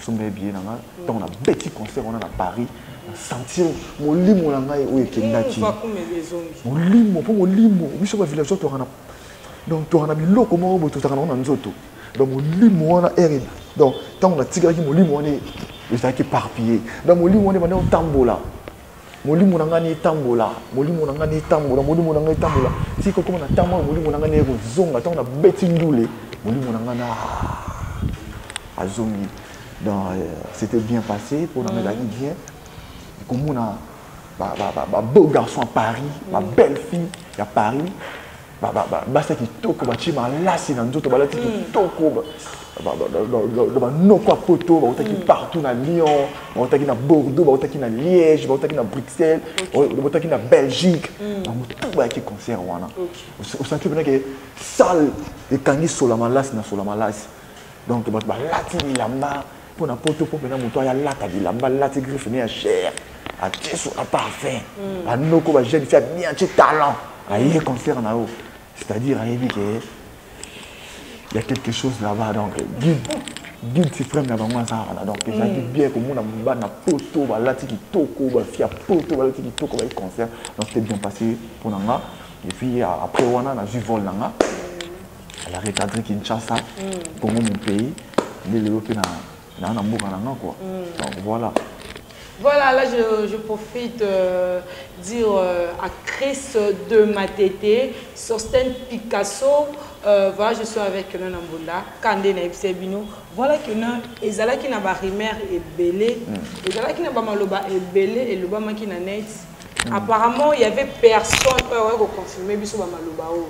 somba ebiye na nga ntango nabeti concert wana na paris sentir molimo na ngai oyo ekendaki molimo mpo molimo biso bavillageois toyaka na donc toyaka na biloko moko boye tozalaka nango na nzoto donc molimo wana ere donc ntango natikalaki molimo wana ezalaki éparpillé donc molimo wana ebanda otambola molimo na ngai na etambola molimo na ngai na etambola molimo na ngai etambola ti kokoma na ntango oyo molimo na ngai naye kozonga ntango nabeti ndule molimo na ngai na ah, azongi donc euh, c'était bien passé mpo na ngai ezalaki bien komona babeau garçon ya paris babelle fille ya paris basi ya kitoko batye malasi na nzoto balati hmm. kitoko na banoko ya poto bautaki hmm. partout na lyon bautaki na bordeaux bautaki na liège bautaki na bruxelles bautaki na belgique hmm. bango tu bayaki concert wana osanti mpena ke salle ekangi sola malasi na sola malasi donc bato balati bilamba mpo na poto mpo mpena moto aya alata bilamba alati griffe ne ya cher atie so aparfum mm. anoko bajeune fi abien atie talent aye concert na yo c'est-à-dire ayebi ke ya quelque chose là-bas donc guide guide suprême na bango aza wana donc ezalaki mm. bien komona bana poto balati kitoko bafi ya poto balati kitoko baye concert donc c'était bien passé mpo na nga et puis après wana nazwi vol na nga Elle a recadré Kinshasa, mm. Congo mon pays, nde lelo mpe na na na mboka na nga quoi. Mm. Donc voilà. Voilà, là je, je profite euh, dire euh, à Chris de Matete, Sosten Picasso, euh, voilà, je suis avec Nana Mbonda, Kande na Ebsebino. Voilà que na ezalaki na ba rimer ebele, mm. ezalaki na ba maloba ebele et loba maki na net. Mm. Apparemment, il y avait personne qui a confirmé biso ba maloba. Oh.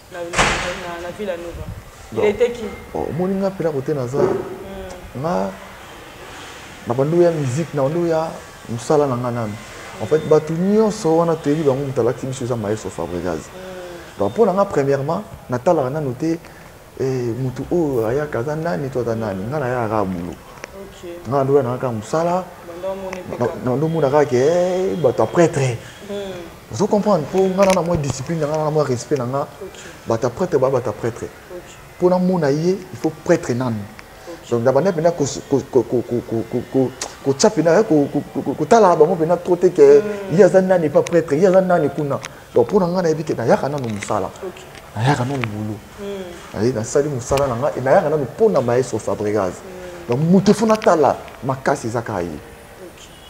na villa nova il était qui omoni nga mpela kote naza nga na bandi oya musique na bandi oya mosala na nga nanu en fait bato nyonso wana toyebi bango moto alakisi biso eza maestro fabrigaz donc mpo na nga premièrement natalaka nanu te eh, moto oyo ayaka aza nani to aza nani nga naya kaka bulo nga na ndoya nanga kaka mosala na ndomona kaka ke eh, bato ya pretre hmm. ozo comprendre mpo ngai na na mwa discipline na ngai na na mwa respect na ngai bata prêtre baa bata prêtre mpo namona ye il faut prêtre nanu donc na banda mpenza kotya mpenza kotalaka bango mpenza trop te ke mm. ye aza nani epa prêtre ye aza nani kuna donc mpo na ngai nayebi ke nayaka nanu mosala nayaka nanu bulu mm. nasali mosala na ngai nayaka nanu mpo na maestro fabrigas mm. donc moto efo natala makasi eza kaka ye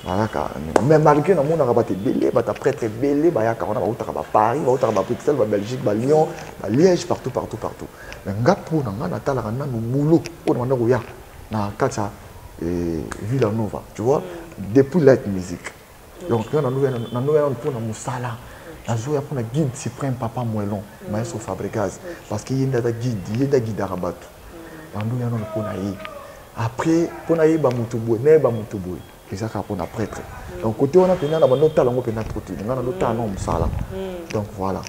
bayaka mais malgré namonaka bato ebele bato aprêtre ebele bayaka wana bautaka baparis bautaka babruxelles babelgique balyon baliège partout partout partout mais nga mpo na nga natalaka nanu boulot oyo na banda koya na kati ya eh, villa nova tu vois depuis light musique donc nga nanoya nanu mpo na mosala nazoya mpo na guide suprême papa moelon maestro fabricase parce que ye nde aza guide ye nde agidaka bato nanoya nanu mpo na ye après mpo nayeba moto boye nayeba moto boye eza kaka mpona prêtre donc kote wana mpenza na bando otala yango mpenza trop te nga na ndotala nango mosala mm. donc voilà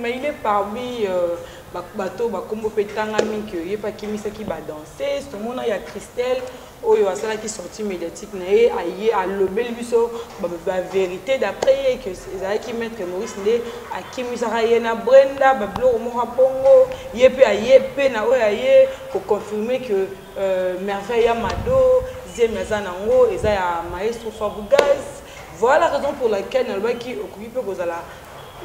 mais il est parmi euh, bato bakombo mpe etangami ke ye mpe akimisaki badanse tomona ya christelle oyo asalaki sortie médiatique na ye aye alobeli biso bavérité d'après ye ke ezalaki maître maurice nde akimisaka ye na brenda babiloko moko bongo ye mpe aye mpe na oyo aye ko confirmer que euh, merveille ya mado zemi aza nango eza ya maestro fabugaz voilà raison pour laquelle nalobaki okoki mpe kozala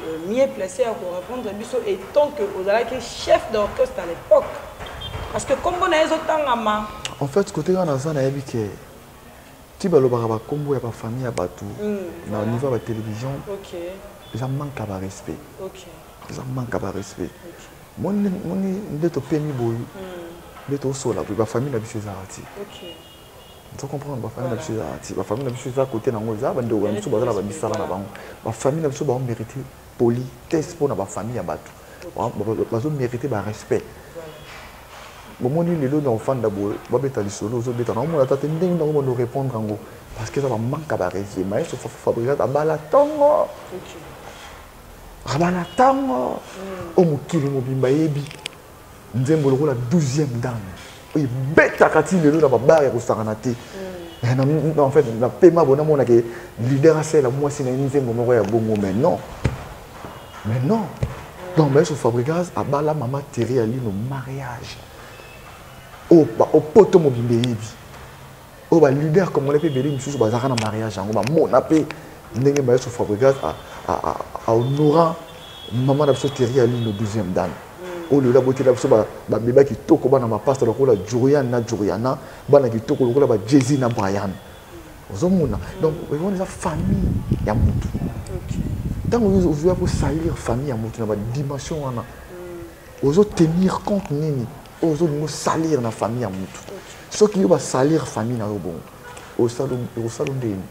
euh, mieux placé ya korépondre biso étant que ozalaki chef d'orchestre à l'époque parce que nkombo na ye ezotangama en fait kote kaka naza nayebi ke ti balobaka bakombo ya bafamille ya bato mm, na niveau ya batelevision eza manque ya barespect eza manque ya barespect moni moni nde topemi boyi nde tosola boyi bafamille na biso ezalaka ti oza comprendre bafamille na biso ezalaka ti bafamille na biso eza kote nango eza bandeko na biso bazala bamisala na bango bafamille na biso bango mérite politesse mpo na bafamille ya bato bazo mérite barespect bomoni lelo na ofanda boye babeta lisolo ozobeta na omona ata te ndenge nango bando répondre yango parce que eza bamanka barespect maestro fabricat abala ntongo vraiment na ntango oyo mokili mobimba eyebi nzembo lokola 12e dame oyo ebetaka ti lelo na babare ya kosakana te mm. en fait na pema bo namonaka leader asala mwasi na ye nzembo moko ya bongo mais non mais non donc bayeso fabrigas abala mama terri alino mariage oyo oh, opoto oh, mobimba eyebi oyo ba leader congolais mpe ebele misusu bazalaka na mariage yango bamona mpe ndenge maestro fabrigas ahonora mama na biso teri ya lino 12e dame oyo lelo abotela biso babeba kitoko bana mapasta lokola jurian na juriana bana kitoko lokola ba jesi na brian ozomona donc wana eza famille ya motu ntango ozoya kosalir famille ya motu na badimension wana ozotenir compte nini oyo ozolinga osalire na famille ya mutu soki yo basalire famille na yo bongo okosala ndeni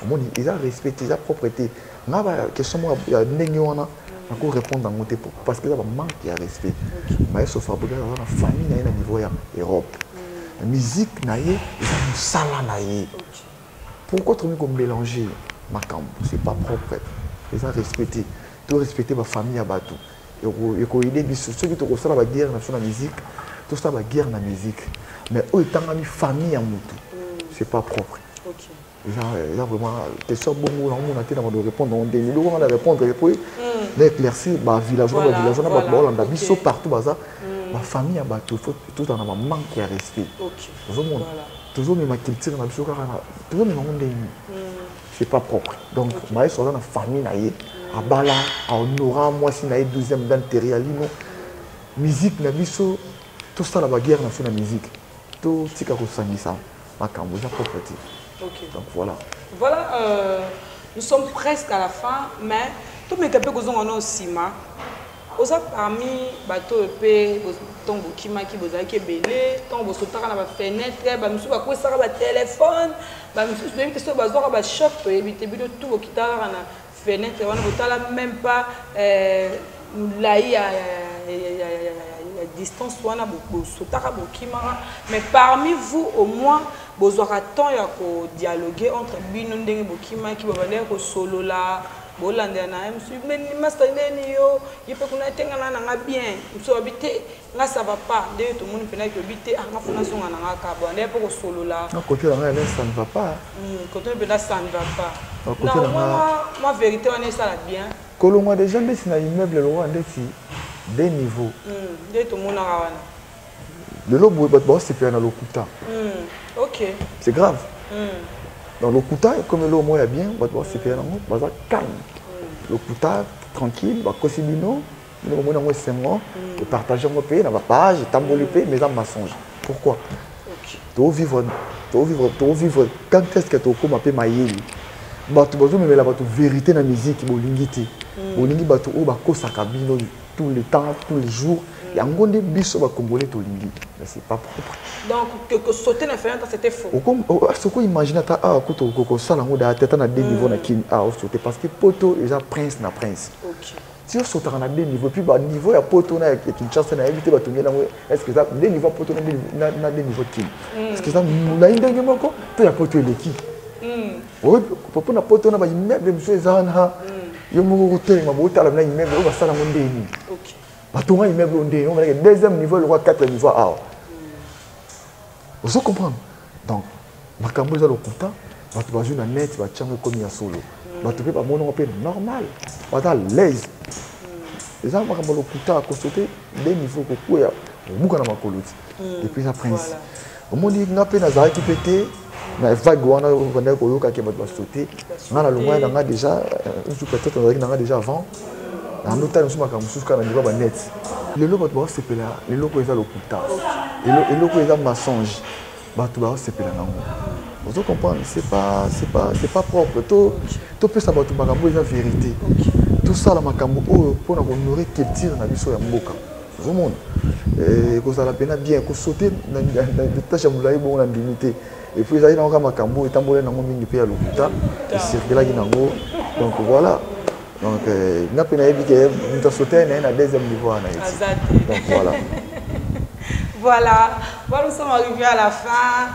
omoni eza respect te eza propre te nga baquestion moko ya ndenge wana nako répondre yango te parce que eza bamanque ya respect maestro fabrigas aza na famille na ye na niveau ya europe mm. musique na ye eza mosala na ye pourquoi tokomi komélange makambo c'est pas propre eza respect te to respecte bafamille ya bato ekoyede biso soki tokosala baguerre na biso na musique tosala baguerre na musique mais oyo etangami famille ya motu mm. c'est pas propre eza euh, vraiment question bongo naomona te na bando répondre yango ndenge eloko nga na répondre epo na éclaircir bavillageois na bavillageois na bato baolanda biso partout baza mm. bafamille ya bato fo tozala na bamanque ya respect ozomona tozomema culture na biso kaka tozomema yango ndenge nini mm. c'est pas propre donc okay. maestro aza na famille na ye abala ahonora mwasi na ye 12e dan terialino musique na biso tosala baguerre na biso na musique totika kosangisa makambo eza propre te okay. donc voilà voilà euh, nous sommes presque à la fin mais tomeka mpe kozonga nao nsima Oza parmi bato oyo pe ntango bokimaki bozalaki ebele ntango bosotaka na bafenetre bamisusu bakwesaka batelefone bamisusu toyebi te soki bazwaka bachoc toyebi te bino tu bokitaka kaka na fenetre wana botala meme pas euh, molai ya distance wana bosotaka bokimaka mais parmi vous au moins bozwaka temps ya kodialogue entre bino ndenge bokimaki babandaki kosolola bolandela na ye mosusu meni masta ndeni yo ye mpe kuna etenga na nanga bien mosusu abi te nga ça va pas nde yo tomoni mpena ke obi te anga mpo nazonga na nga kabo ande mpe kosolola kote na ngai ça ne va pas kote hmm, mpena ça ne va pas na omona mwa vérité wana esala bien kolongwa déjà ndeti na immeuble lokola ndeti de niveau hmm, nde tomonaka wana lelo boye bato baosepela na lokuta hmm, okay. c'est grave hmm. donc lokuta ekomi eloko moko ya bien bato baosepela hmm. nango baza calme hmm. lokuta tranquille bakosi bino bino bomoni yango esengo hmm. epartage yango mpe na bapage etamboli mpe hmm. mais eza mensonge pourquoi okay. tovivre tovivre tovivre quand est ce que tokokoma mpe mayeli bato bazomemela bato verité na miziki bolingi te hmm. bolingi bato oyo bakosaka bino tout le temps tous les jours yango nde biso bacongolais tolingi mais c'est pas propre donc que, que sauter na fenêtre c'était faux okomi oh, ah, soko imagine ata awa ah, kutu okosala yango da tata na deux mm. niveau na kini awa ah, osaute parce que poto eza prince na prince okay. ti osotaka na deux niveau puis baniveau ya poto na ya kinshasa nayebi te batongi yango est ce que eza deux niveau ya poto na deux niveau kini mm. est ce que eza molai ndenge moko to ya poto eleki mm. Papa na poto na ba immeuble mosusu eza wana yo moko kotelema botala na immeuble oyo basala yango ndenge nini batonga immeuble oyo ndenge omonake deuxième niveau lokwa quatre niveau awa ozo comprendre donc makambo eza lokuta bato bazwi na net batyango ekomi ya solo bato mpe bamonango mpe normal baza laise eza makambo lokuta kosote de niveau kokwea obuka na makolo ti epuis na prince omoni nga mpe nazalaki mpe te na vague wana bandaki koyoka ke bato basote nga na longwani na nga déjà nsu peut-être nazalaki na nga déjà avant nando tala mosusu makambo mosusu kaka na liba banete lelo bato baosepela eloko eza lokuta eloko eza mensonge bato baosepela nango ozo comprendre c'est pas c'est pas c'est pas propre to topesa bato makambo eza vérité tosala makambo oyo mpo na kohonore culture na biso ya mboka ozomona eh, ekozala mpena bien kosote tashe ya molai bongo na ndimi te epuis ezalaki nango kaka makambo etambolaki nango mingi mpe ya lokuta esirkelaki nango donc voilà donc eh, nga mpe nayebi ke moto asote na ye na deuxième niveau wana ye donc voilà voilà voilà nous sommes arrivés à la fin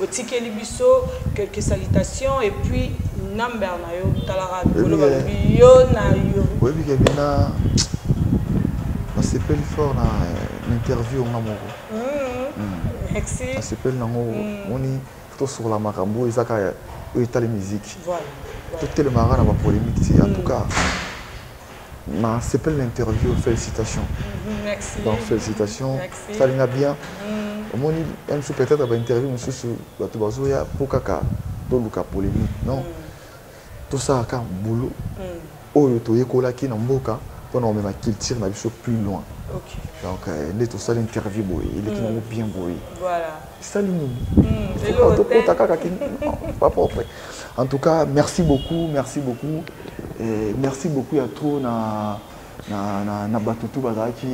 Otikeli biso quelques salutations et puis number na yo talaka bikolo balobi yo na yo. Oyebi ke bina nasepeli fort na interview nga moko. Hmm. Hmm. Merci. Nasepeli nango hmm. moni tosokola makambo eza kaka oyo etali miziki. Voilà. totelemaka na bapolemike te en tout cas Na sepeli na interview felicitations. Mm-hmm, merci. Donc felicitations. Merci. Sali nga bien. Mm. Omoni même si peut-être ba interview mususu bato bazoya po kaka toluka polémique non. Mm. Tosala kaka boulot mm. oyo toyekolaki na mboka mpo na komema culture na biso plus loin. Okay. Donc euh, nde tosali interview boye eleki mm. nango bien boye. Voilà. esali nini hmm, tokota kaka ki pas propre en tout cas merci beaucoup merci beaucoup eh, merci beaucoup ya trop na na, na, na bato tu bazalaki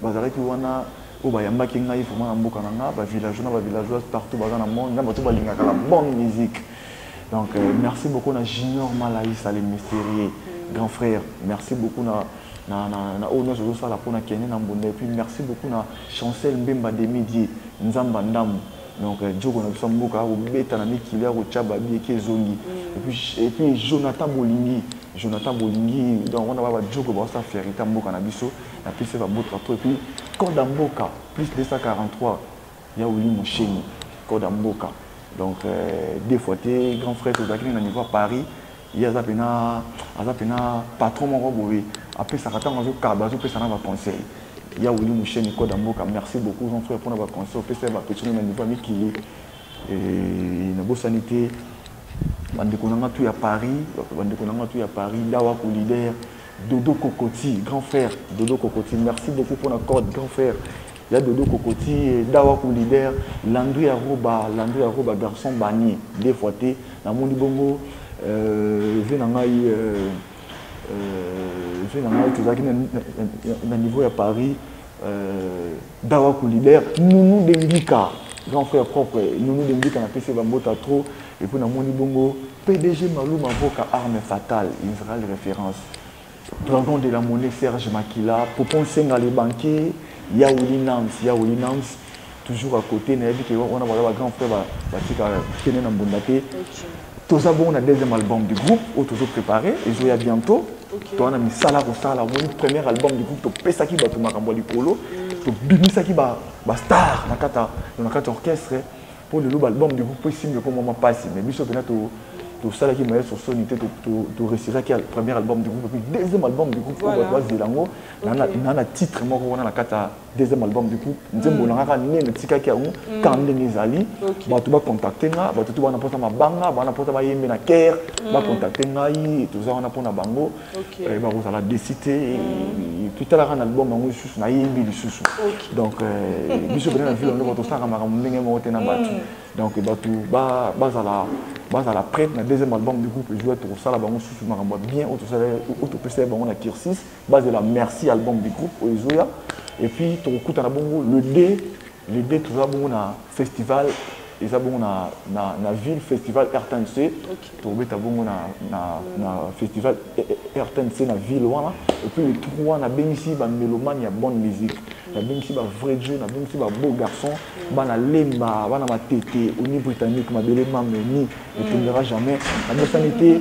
bazalaki wana oyo bayambaki ngai vraiment na mboka na ngai bavillageois na bavillageoise partout baza na monde na bato balingaka la bonne musique donc euh, merci beaucoup na junior malaïs ale mysterieux grand frère merci beaucoup na na, na, na oyo nyonso ozosala mpo na kende na mbunda epuis merci beaucoup na Chancel Mbemba Demi Dieu Nzamba Ndamu donc euh, Djoko na biso mboka akobeta na mikili akotia babi eki ezongi mm. et puis et puis Jonathan Bolingi Jonathan Bolingi donc on a ba Djoko ba sa ferita mboka na biso na pise ba botra to et puis Koda Mboka plus 243 ya Willy Mosheni Koda Mboka donc euh, des fois te grand frère tozalaki na niveau à Paris ye aza pena aza pena patron moko boye apesaka ntango azokaba azopesa na baconseil ya wili musheni koda mboka merci beaucoup jean frère mpona baconseil opesa ya bapetino na niveau ya mikili nabosani te bandeko na nga tu ya paris bandeko na nga tu ya paris dawa kolider dodo kokoti grand frère dodo kokoti merci beaucoup mpona code grand frère ya dodo kokoti eh, dawa ku leader landu ya roba landu ya roba garçon bani deux fois te namoni bongo euh, vie na ngai euh, euh, vie na ngai tozalaki na niveau ya paris dawa ku leader nunu dengika grand frère propre nunu dengika napesi bambota trop epuis namoni bongo pdg maluma voka arme fatale israel référence Dragon de la monnaie Serge Makila, Popon Senga le banquier, Yaouli Nams, Yaouli Nams, toujours à côté, nayebi que on a ba grand frère ba ba tika kene na mbunda te. Toza bon na deuxième album du groupe, au toujours préparé, et je ya bientôt. Okay. Toana misala ko sala, mon premier album du groupe to pesa ki batu makambo likolo, to bimisa ki ba ba star na kata na kata orchestre. mpo lelo baalbum de groupe esimbi eko mwa mpasi mais biso mpena tosalaki maestro soni te toresiraki premier album de groupe puis deuxième album de groupe oyo bato bazela yango na na titre moko wana na kati ya deuxième album de groupe nzembo na ngaka nene etikaki yango kaka ndenge ezali bato bacontacte nga bato to bana mposa mabanga bana mposa bayembe na kere bacontacte ngai toza wana mpo na bango eh, bakozala desi te mm. totalaka na album yango lisusu nayembi lisusu donc eh, biso pene na ville ondoko tosalaka makambo ndenge moko te na mm. bato donc bato bazala bazala prête na deuxième album du groupe joue tokosala bango susu makambo bien oyo topesaki bango na kirsis bazela merci album du groupe oyo ezoya et puis tokokutana bongo le 2 L'idee toza bongo na festival eza bongo na, na, na ville festival rtnc okay. tokobeta bongo na, na, mm. na festival rtnc na ville wana epuis le trois nabengisi bamelomane ya bonne musique mm. nabengisi bavrai jo nabengisi babeau garçon mm. bana lemba bana matete oni britannique mabele mameni mm. etongera jamais nabosani te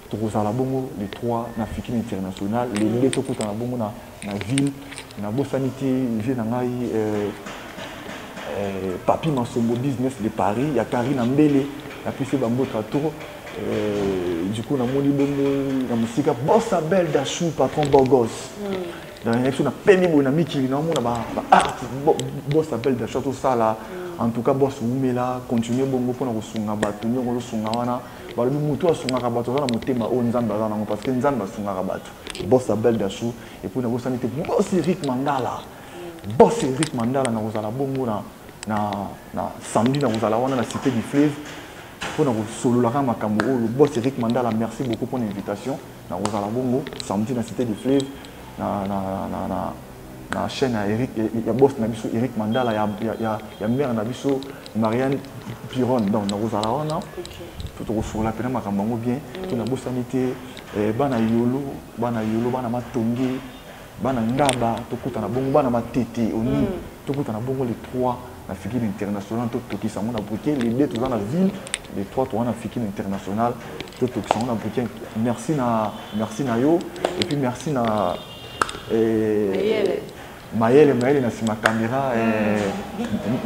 tokozala bongo le 3 na fikini international le 2 tokutana bongo na, na ville nabosani te vie na ngai euh, euh, papi masombo business de paris ya karina mbele napesi bambotra tour euh, du coup namoni bongo na mosika bosa belle dachou patron bogos mm. nayaki so napemi boye na mikili naomona baart bosa belle dachou tosala mm. en tout cas bos wumela continue bongo mpona kosunga bato nyongo ozosunga wana balobi moto asungaka bato aza na motema oyo nzambe aza nango parce que nzambe asungaka bato bos ya bel dasou epuis nabosani te bos eric mandala bos eric mandala nakozala bongo na, na, na samedi nakozala wana na cité du fleuve mpo na kosololaka makambo oyo bos eric mandala merci beaucoup mpo na invitation nakozala bongo samedi na cité du fleuve na, na, na, na, na chaîne ya Eric ya boss na biso Eric Mandala ya ya ya, ya mère na biso Marianne Piron donc nakozala wana okay. to tokosola pena makambo yango bien mm. to nabosani te eh, bana yolo bana yolo bana matonge bana ngaba tokutana bongo bana matete oni mm. tokutana bongo les trois na fikini international totokisa yango na brike lede toza na ville le 3 toza na fikini international totokisa yango na brike merci na merci na yo et puis merci na eh, mayele mayele na nsima kamera eh,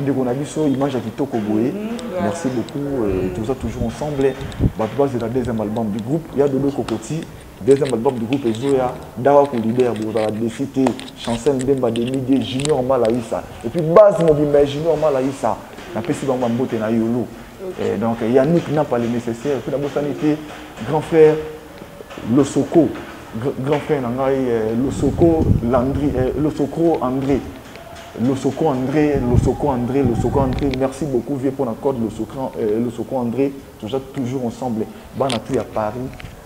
ndeko na biso image ya kitoko boye mm-hmm. merci beaucoup eh, toza toujours ensemble bato bazela deuxième album du groupe ya dodo kokoti Deuxième album du groupe Ezoya, Dawa Kou leader, Bozala Desi Te, Chancel Mbemba, Demi Dieu, Junior Malaïsa. Et puis base mobimba Junior Malaïsa, na pesi bango mbote na Yolo. Et donc Yannick n'a pas le nécessaire. Et puis la Bossani était grand frère Losoko, grand frère Nangai, euh, Losoko, Landry, euh, Losoko André. Losoko André, Losoko André, Losoko André, merci beaucoup vieux pour la code Losoko, euh, Losoko André, toujours, toujours ensemble. Bana tout à Paris,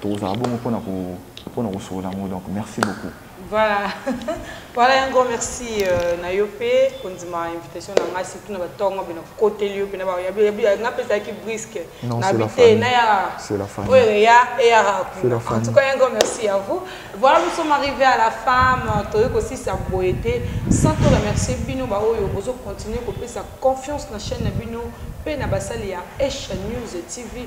tokozala bongo mpona mpona kosolola yango donc merci beaucoup voilà voilà yango merci euh, na yo mpe kondima invitation na ngai surtout na batongo mpe nakokoteli yo mpe nga mpe ezalaki briske na bite na ya oyo eya eyaka kuna en tout cas yango merci à vous voilà nous sommes arrivés à la femme euh, toyei kosisa boye te sans to remercier bino baoyo bozocontinue kopesa confiance na chaîne na bino mpe na basali ya h news tv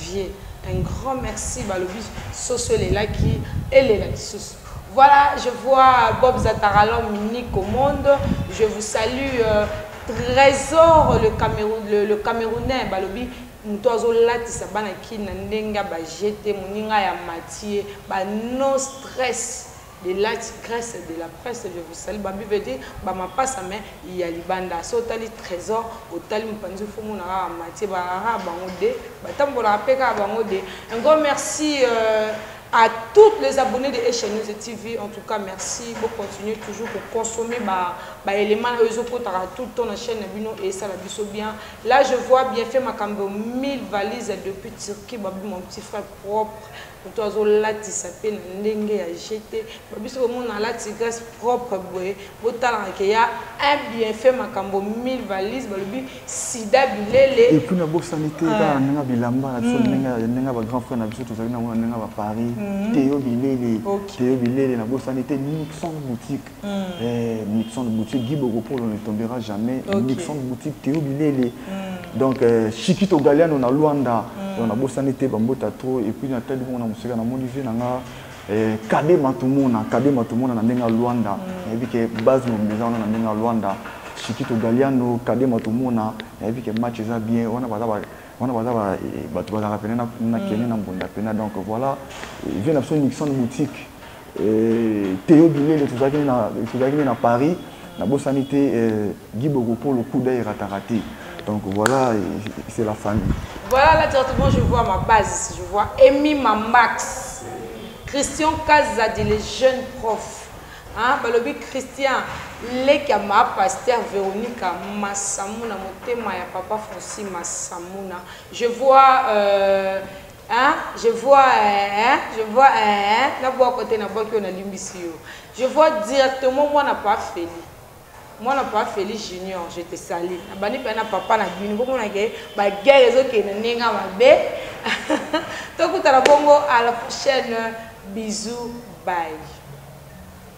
Vieux un grand merci balobi soso elelaki elela lisusu. Voilà je vois Bob Zataralom Nico Monde je vous salue Tresor le Cameroun le, le Camerounais balobi moto azo latisa bana kin na ndenge ya ba jeux te moninga ya Mathieu ba no stress de laty grace de la presse je vous salut bambi veut dire ba mapasa mais ya libanda so otali trésor otali mopanzi fo mona kaka matie bakaka bango de batambolaka mpe kaka bango de un grand merci euh, à toutes les abonnés de Echa News TV. En tout cas, merci. Vous continuez toujours pour consommer bah, bah, éléments là, ils ont tout le temps la chaîne Nabino et ça la biso bien. Là, je vois bien fait ma cambo 1000 valises depuis Turquie, bah, mon petit frère propre. mutu azo latisa pe na ndenge ya jeux te ba biso komona alati grace propre boye botalaka ke ya un bienfait makambo 1000 valise balobi sida bilele et puis na bosani te kaka ndenge bilamba na biso ndenge ya ndenge ba grand frère na biso tozali na mona ndenge ba paris teyo bilele teyo bilele na bosani te nous sommes boutique mm. eh, Nixon Bouti Guy Bokopolo ne tombera jamais okay. Nixon Bouti Théo Bilele mm. donc euh, Chikito Galiano na Luanda mm. donc nabosani te bambota trop et puis natali bongo na mosika namoni vie na nga eh, kabe matumona kabe matumona na ndenge ya Luanda mm. nayebi ke base mobimba eza wana na ndenge ya Luanda Chikito Galiano kabe matumona nayebi ke match eza bien wana baza ba wana baza eh, bato bazalaka pene na kene na mbunda pena donc voilà vie na biso Nixon Boutique Theo Bilele tozalaki nde na Paris nabosani te Guy Bogopolo coup d'oeil ratarate donc voilà c'est la famille voilà là directement je vois ma base je vois Emi Mamax Christian Kazadi le jeune prof hein balobi Christian leki ya ma pasteur Veronica Masamuna motema ya papa Francis Masamuna je vois euh, Hein, je vois hein, je vois hein, na bwa kote na bwa kio na limbisi yo. Je vois directement moi na pa Feli. Moi na pa Feli Junior, je te salue. Na bani pa na papa na bini ko mona ke ba guerre ezo ke na nenga mabe. Tokuta na bongo à la prochaine. Bisous, bye.